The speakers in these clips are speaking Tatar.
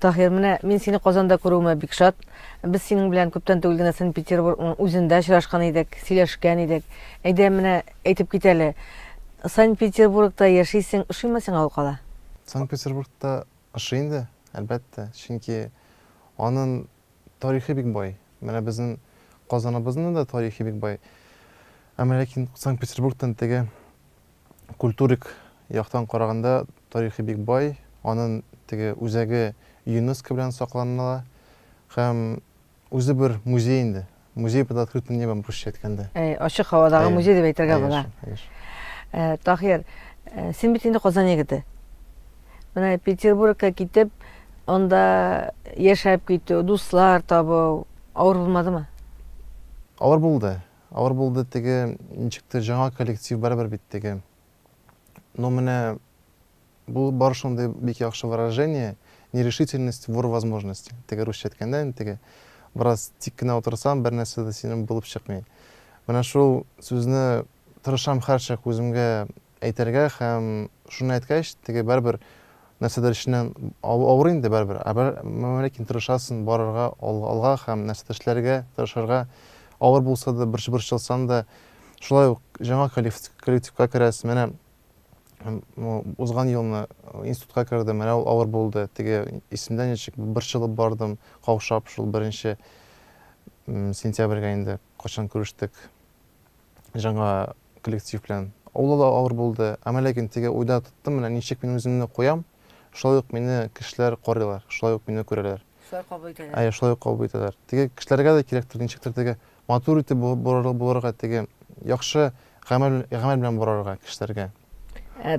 Таһир, менә мин сине Казанда күрүемә бик шат. Без синең белән күптән түгел генә Санкт-Петербургның үзендә очрашкан идек, сөйләшкән идек. Әйдә, менә әйтеп кит әле, Санкт-Петербургта яшисең, ошыймы сиңа ул кала? Санкт-Петербургта ошый инде, әлбәттә, чөнки анын тарихы бик бай. Менә безнен Казаныбызның да тарихы бик бай. Әмма ләкин Санкт-Петербургтан теге культурик яктан караганда тарихи бик бай, анын теге үзәге ЮНЕСКО белән сакланыла һәм үзе бер музей инде, музей под открытым небом, русча әйткәндә. Әй, ачык һавадагы музей дип әйтергә була. Ә, Таһир, ә, син бит инде Казан егете. Менә Петербургка китеп, анда яшәп китү, дуслар табу авыр булмадымы? Авыр булды. Авыр булды теге, ничектер, жаңа коллектив барыбер бит теге. Но менә бу бар шундый бик яхшы выражение, нерешительность вор возможности. Теге русча әйткәндә инде теге, бераз тик кенә утырсаң, бернәрсә дә синең булып чыкмый. Менә шул сүзне тырышам һәрчак үземгә әйтергә һәм шуны әйткәч, теге барыбер нәрсәдер эченнән авыр инде барыбер, ә бер, ләкин тырышасың барырга алга һәм нәрсәдер эшләргә, тырышырга, авыр булса да, борчылсаң да, шулай ук жаңа коллективка керәсең, менә узган елны институтка кердем, менә ул авыр булды, теге исемдә ничек борчылып бардым, каушап шул беренче сентябрьгә инде. Кайчан күрештек жаңа коллектив белән. Ул да авыр булды. Әмма ләкин теге уйда тоттым, менә ничек мин үземне куям, шулай ук мине кешеләр карыйлар, шулай ук мине күрәләр. Шулай кабул итәләр. Әйе, шулай ук кабул итәләр. Теге кешеләргә дә кирәктер ничектер теге матур итеп булырга, теге яхшы гамәл гамәл белән барырга кешеләргә.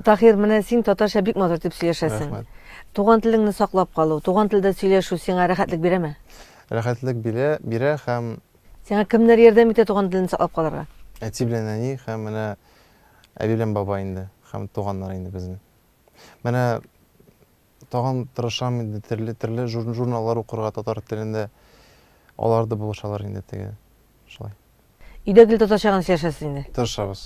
Таһир, менә син татарча бик матур итеп сөйләшәсең. Рәхмәт. Туган телеңне саклап калу, туган телдә сөйләшү сиңа рәхәтлек бирәме? Рәхәтлек бирә, бирә һәм Сиңа кемнәр ярдәм итә туган телне саклап калырга? Әти белән әни һәм менә әби белән бабай инде, һәм туганнар инде безнең. Менә тагын тырышам инде төрле төрле журналлар укырга татар телендә. Алар да булышалар инде теге шулай. Өйдә гел татарча гына сөйләшәсез инде? Тырышабыз.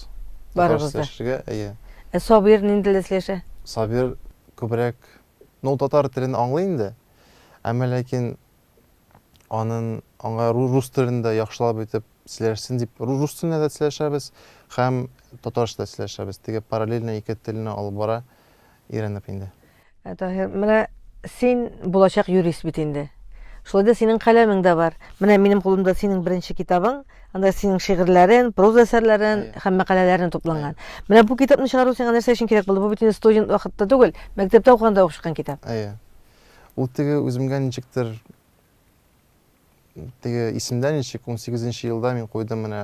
Барыбыз да. Сөйләшергә, әйе. Ә Сабир нинди телдә сөйләшә? Сабир күбрәк, ну татар телен аңлый инде, әмма ләкин анын аңа рус телен дә яхшылап итеп сөйләшсен дип рус теленә дә сөйләшәбез һәм татарча да сөйләшәбез теге параллельно ике телне алып бара өйрәнеп инде. Ә Таһир, менә син булачак юрист бит инде. Шулай да синең каләмең дә бар. Менә минем кулымда синең беренче китабың, анда синең шигырьләрең, проза әсәрләрең һәм мәкаләләрең тупланган. Менә бу китапны чыгару сиңа нәрсә өчен кирәк булды? Бу бит инде студент вакытта түгел, мәктәптә укыганда ук чыккан китап. Әйе. Ул теге үземгә ничектер теге исемдә ничек 18 елда мин куйдым менә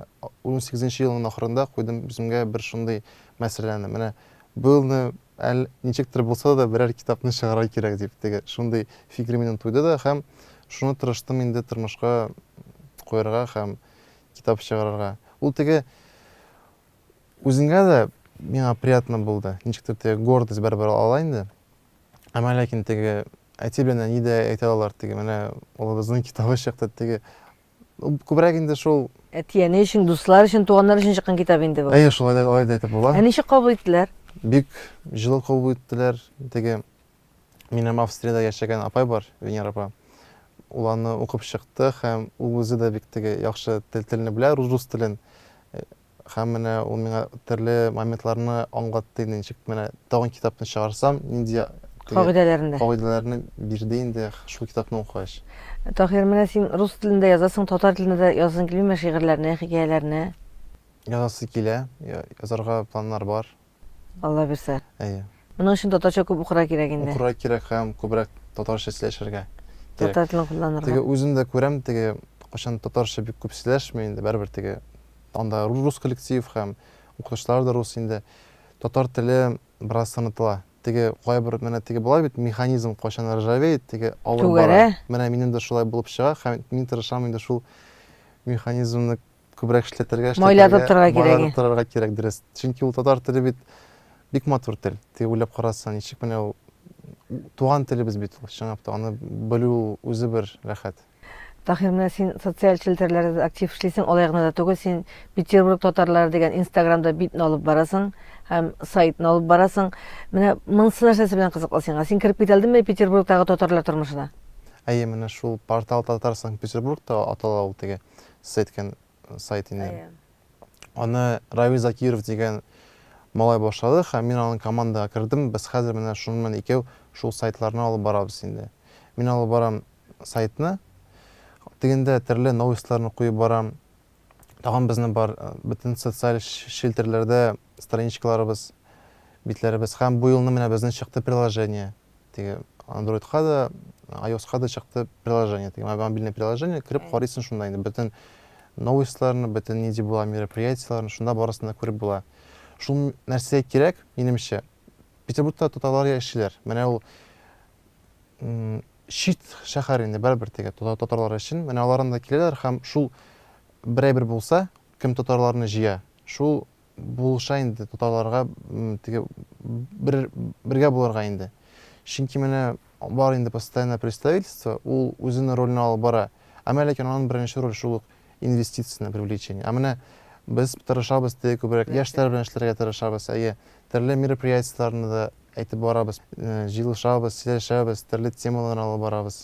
18 елның ахырында куйдым үземгә бер шундый мәсьәләне менә быелны әл ничектер булса да берәр китапны чыгарга кирәк дип теге шундый фикер минем туйды да һәм шуны тырыштым инде тормышка куярга һәм китап чыгарырга ул теге үзеңә дә миңа приятно булды ничектер теге гордость барыбер ала инде Әмма ләкин теге әти белән әни дә әйтә алалар, теге менә улыбызның китабы чыкты, теге күбрәк инде шул. Әти-әни өчен, дуслар өчен, туганнар өчен чыккан китап инде бу. Әйе, шулай да, алай да әйтеп була. Ә ничек кабул иттеләр? Бик җылы кабул иттеләр. Теге минем Австриядә яшәгән апай бар, Венера апа. Ул аны укып чыкты һәм ул үзе дә бик теге яхшы тел телне белә, рус телен. Һәм менә ул миңа төрле моментларны аңлатты инде, ничек менә тагын китапны чыгарсам, нинди кагыйдәләрне кагыйдәләрне бирде инде шул китапны укыгач. Таһир, менә син рус телендә язасың, татар телендә дә язасың килмиме шигырьләрне, хикәяләрне? Язасы килә, язарга планнар бар. Алла бирсә. Әйе. Моның өчен татарча күп укырга кирәк инде. Укырга кирәк һәм күбрәк татарча сөйләшергә. Татар телен кулланырга. Теге үзем дә күрәм, теге кайчан татарча бик күп сөйләшми инде, барыбер теге анда рус коллектив һәм укытучылар да рус инде. Татар теле бераз сынытыла. Теге кайбер менә теге була бит, механизм кайчан ржавеет, теге алып бара. Менә минем дә шулай булып чыга һәм мин тырышам инде шул механизмны күбрәк эшләтергә, Майлар эшләтергә, тоттырырга майлар кирәге. тоттырырга кирәк, дөрес. Чөнки ул татар теле бит бик матур тел. Теге уйлап карасаң, ничек менә ул туган телебез бит ул, чынлап та, аны белү үзе бер рәхәт. Таһир, менә син социаль челтәрләрдә актив эшлисең, алай гына да түгел, син Петербург татарлары дигән Инстаграмда битне алып барасың һәм сайтны алып барасың. Менә монысы нәрсәсе белән кызыклы сиңа? Син кереп китә алдыңмы Петербургтагы татарлар тормышына? Әйе, менә шул портал Татар Санкт-Петербург та атала ул теге. сеткин сайт инде. Әйе. Аны Равил Закиров дигән малай башлады һәм мин аның командага кердем. Без хәзер менә шуны мен икәү шул сайтларны алып барабыз инде. Мин алып барам сайтны. Тегендә төрле новостьларны куеп барам. Тагын безнең бар э, бөтен социаль челтерләрдә страничкаларыбыз, битләребез һәм бу елны менә безнең чыкты приложение. теге андроидка да айоска да чыкты приложение теге мобильный приложение кереп карыйсың шунда инде бөтен новостьларны бөтен нинди була мероприятиеләрне шунда барысын да күреп була шул нәрсә кирәк минемчә петербургта татарлар яшиләр менә ул чит шәһәр инде барыбер теге татарлар өчен менә алардан да киләләр һәм шул берәйбер булса кем татарларны җыя шул булыша инде татарларга теге бер бергә булырга инде. Чөнки менә бар инде постоянное представительство, ул үзенең ролен алып бара. Әмма ләкин аның беренче роль шул ук инвестицияне привлечение. Ә менә без тырышабыз, теге күбрәк яшьләр белән эшләргә тырышабыз, әйе, төрле мероприятиеләрне дә әйтеп барабыз, җыелышабыз, сөйләшәбез, төрле темалар алып барабыз.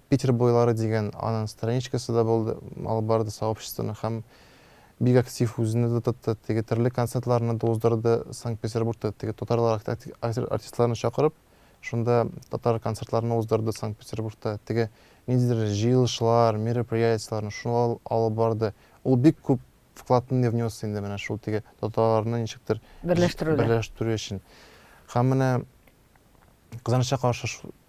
Питер буйлары дигән анын страничкасы да булды, алып барды сообществоны һәм бик актив үзенә дә тотты, теге төрле концертларны да уздырды, Санкт-Петербургта теге татарлар актив артистларны чакырып, шунда татар концертларны уздырды Санкт-Петербургта, теге ниндидер җыелышлар, мероприятияләрне шулар алып барды, ул бик күп вкладны внес инде менә шул теге татарларны ничектер берләштерүдә берләштерү өчен һәм менә кызганычка каршы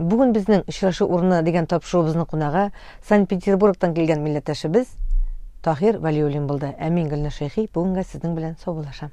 Бүген безнең Очрашу урыны дигән тапшыруыбызның кунагы Санкт-Петербургтан килгән милләттәшебез Таһир Вәлиуллин булды. Ә мин Гөлнур Шәйхи бүгенгә сезнең белән саубуллашам.